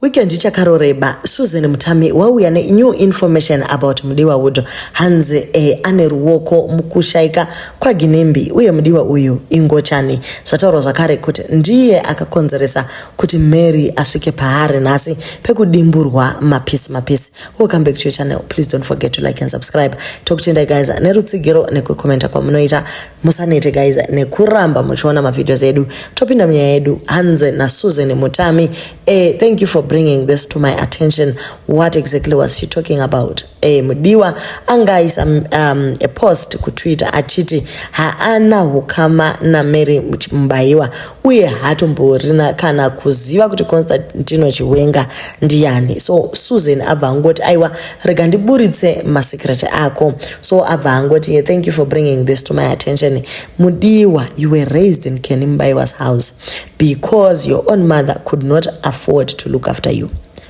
Weekend ichakaroreba Susan Mutami wauya ne new information about Mudiwa Wood hanzi eh, ane ruoko mukushaika kwaGinembi uye Mudiwa uyu ingochani zvataurwa zvakare kuti ndiye akakonzeresa kuti Mary asvike paari nhasi pekudimburwa mapisi mapisi. Welcome back to your channel. Please don't forget to like and subscribe. Tokutendai guys nerutsigiro nekukomenta kwamunoita. musanete guys nekuramba muchiona mavideos edu topinda munyaya yedu hanze nasusan mutami eh, thank you for bringing this to my attention what exactly was she talking about eh, mudiwa anga aisa um, a post kutwitter achiti haana hukama namary mubaiwa uye haatomborina kana kuziva kuti constantino chiwenga ndiyani so susan abva angoti aiwa rega ndiburitse masecret ako so abva angoti yeah, thank you for bringing this to my attention mudiwa you were raised in kenimubaiwas house because your own mother could not afford to look after you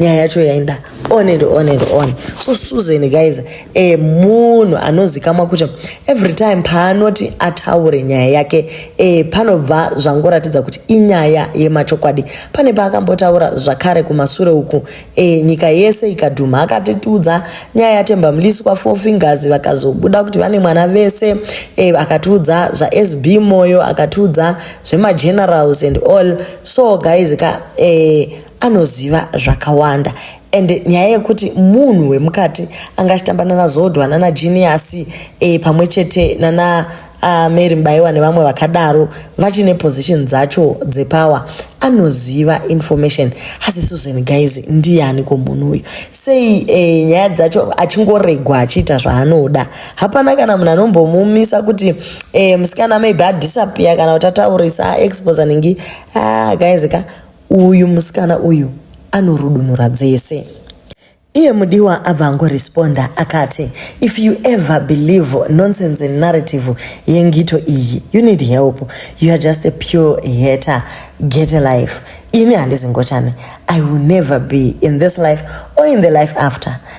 nyaya yacho yaenda on and on and on so susan guys e munhu anozikamwa kuti every time paanoti ataure nyaya yake e panobva zvangoratidza kuti inyaya yemachokwadi pane paakambotaura zvakare kumasure uku e nyika yese ikadhuma akatitiudza nyaya yatemba mlisi kwafour fingers vakazobuda kuti vane mwana vese e akatiudza zvasb moyo akatiudza zvemagenerals and all so guys ka e, anoziva zvakawanda and nyaya yekuti munhu wemukati anga achitamba nana zodwa nana genius e, eh, pamwe chete nana uh, mary mubaiwa nevamwe vakadaro vachine position dzacho dzepower anoziva information asi susan guys ndiani ko munhu uyu sei e, nyaya dzacho achingoregwa achiita zvaanoda hapana kana munhu anombomumisa kuti e, musikana maybe adisappear kana kuti ataurisa expos anenge ah, guys ka Uyu musikana uyu anorudunura dzese. Iye mudiwa abva angoresponda akati if you ever believe nonsense narrative yengito iyi you need help you are just a pure hater get a life ini handizi ngochani i will never be in this life or in the life after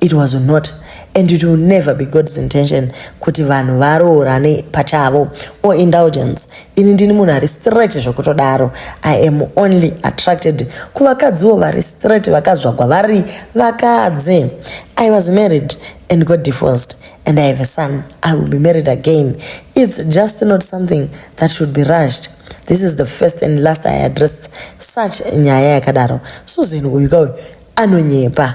It was not and it will never be God's intention kuti vanhu varoorane pachavo or indulgence. Ini ndini munhu ari straight zvekutodaro. I am only attracted kuvakadziwo vari straight vakazvagwa vari vakadzi. I was married and got divorced and I have a son. I will be married again. It's just not something that should be rushed. This is the first and last I addressed such nyaya yakadaro. Susan uyu kauyu anonyepa.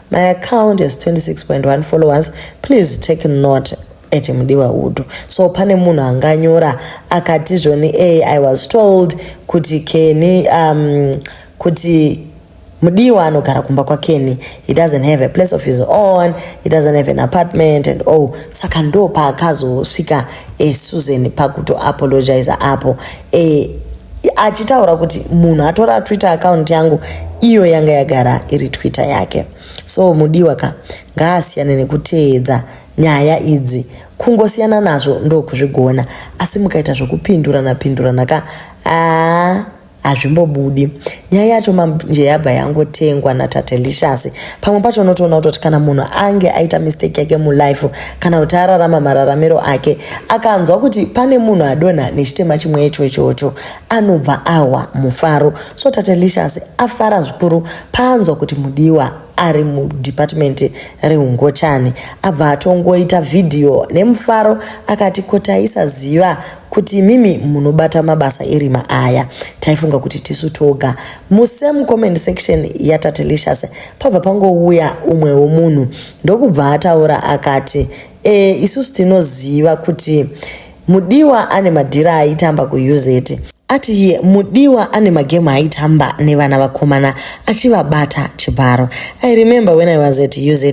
My account has 26.1 followers. Please take note at Mudiwa Udu. So pane munhu anganyora akati zvoni a I was told kuti Kenny um kuti Mudiwa anogara kumba kwa Kenny. He doesn't have a place of his own. He doesn't have an apartment and oh saka ndo paakazosvika eh, Susan pakuto apologize apo. eh, achitaura kuti munhu atora twitter account yangu iyo yanga yagara iri twitter yake so mudiwa ka ngaasiyane nekuteedza nyaya idzi kungosiyana nazvo ndokuzvigona asi mukaita zvokupindurana pindurana ka aa hazvimbobudi nyaya yacho manje yabva yangotengwa natatelicious pamwe pacho unotoona kutoti kana munhu ange aita mistake yake mulife kana kuti ararama mararamiro ake akanzwa kuti pane munhu adonha nechitema chimwe icho ichocho anobva ahwa mufaro so tatelicious afara zvikuru paanzwa kuti mudiwa ari mudepartment reungochani abva atongoita vhidhiyo nemufaro akati ko taisaziva kuti imimi munobata mabasa erima aya taifunga kuti tisu toga musame comment section yatatelicious pabva pangouya umwewo munhu ndokubva ataura akati e, isusu tinoziva kuti mudiwa ane madhira aitamba kuuz ati iye mudiwa ane magemu aitamba nevana vakomana achivabata chibharo i remember when i was at uz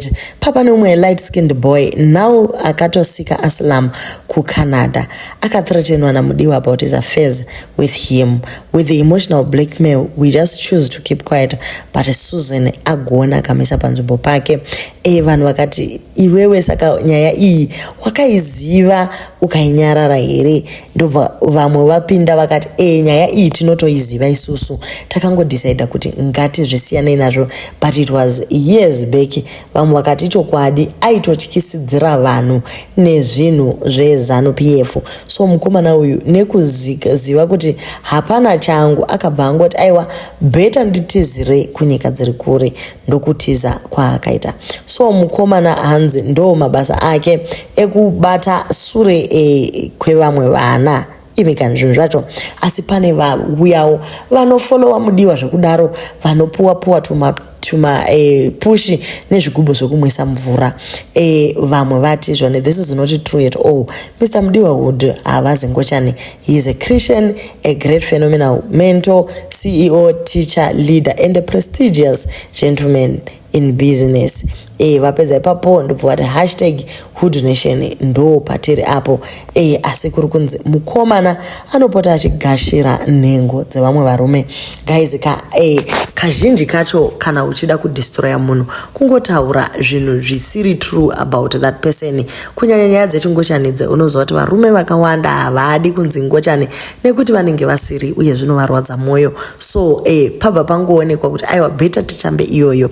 papa neumwe light skinned boy now akatosika aslam kuCanada akathreatenwa naMudiwa about his affairs with him with the emotional blackmail we just choose to keep quiet but Susan agona akamisa panzvimbo pake e vanhu vakati iwewe saka nyaya iyi wakaiziva ukainyarara here ndobva vamwe vapinda vakati e nyaya iyi tinotoiziva isusu takangodecida kuti ngatizvisiyanei nazvo but it was years back Vamwe vakati chokwadi aitotyisidzira vanhu nezvinhu zvezanu PF. So mukomana uyu nekuziva kuti hapana changu akabva angoti aiwa beta nditizire kunyika dziri kure ndokutiza kwaakaita. So mukomana hanzi ndo mabasa ake ekubata sure e, kwevamwe vana. ive kana zvinhu zvacho asi pane vauyawo vanofolowa mudiwa zvekudaro vanopuwa puwa tuma tuma eh, pushi nezvigubhu zvekumwisa mvura eh, vamwe vati zvone this is not true at all mr mudiwa wood havazi ngochani he is a christian a great phenomenal mentor ceo teacher leader and a prestigious gentleman in business eh vapedza ipapo ndobva vati hashtag who donation ndo patiri apo eh asi kuri kunzi mukomana anopota achigashira nhengo dzevamwe varume guys ka eh kazhinji kacho kana uchida kudestroya munhu kungotaura zvinhu zvisiri true about that person kunyanya nyaya dzechingochani dze unoziva kuti varume vakawanda havadi kunzi ngochani nekuti vanenge vasiri uye zvinovarwadza mwoyo so eh, pabva pangoonekwa kuti aiwa bheta titambe iyoyo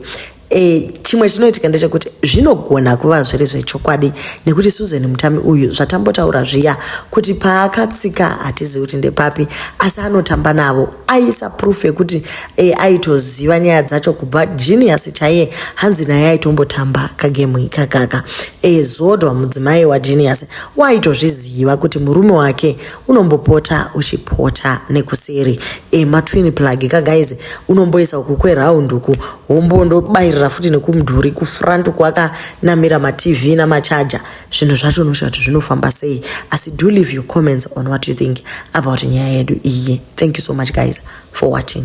E, chimwe chinoitika ndechekuti zvinogona kuva zviri zvechokwadi nekuti susan mutami uyu zvatambotaura zviya kuti paakatsika hatizivi kuti ndepapi asi anotamba navo aisa proof yekuti e, aitoziva nyaya dzacho kubva genius chaiye hanzi naye aitombotamba kagemu ikakaka e, zodwa mudzimai wagenius waaitozviziva kuti murume wake unombopota uchipota nekuseri e, matwin plug ka guys unomboisa uku kweround uku wombondobairira futi nekumudhuri kufront uku akanamira matv namachaja zvinhu zvacho unosvika kuti zvinofamba sei asi do leave your comments on what you think about nyaya yedu iye thank you so much guys for watching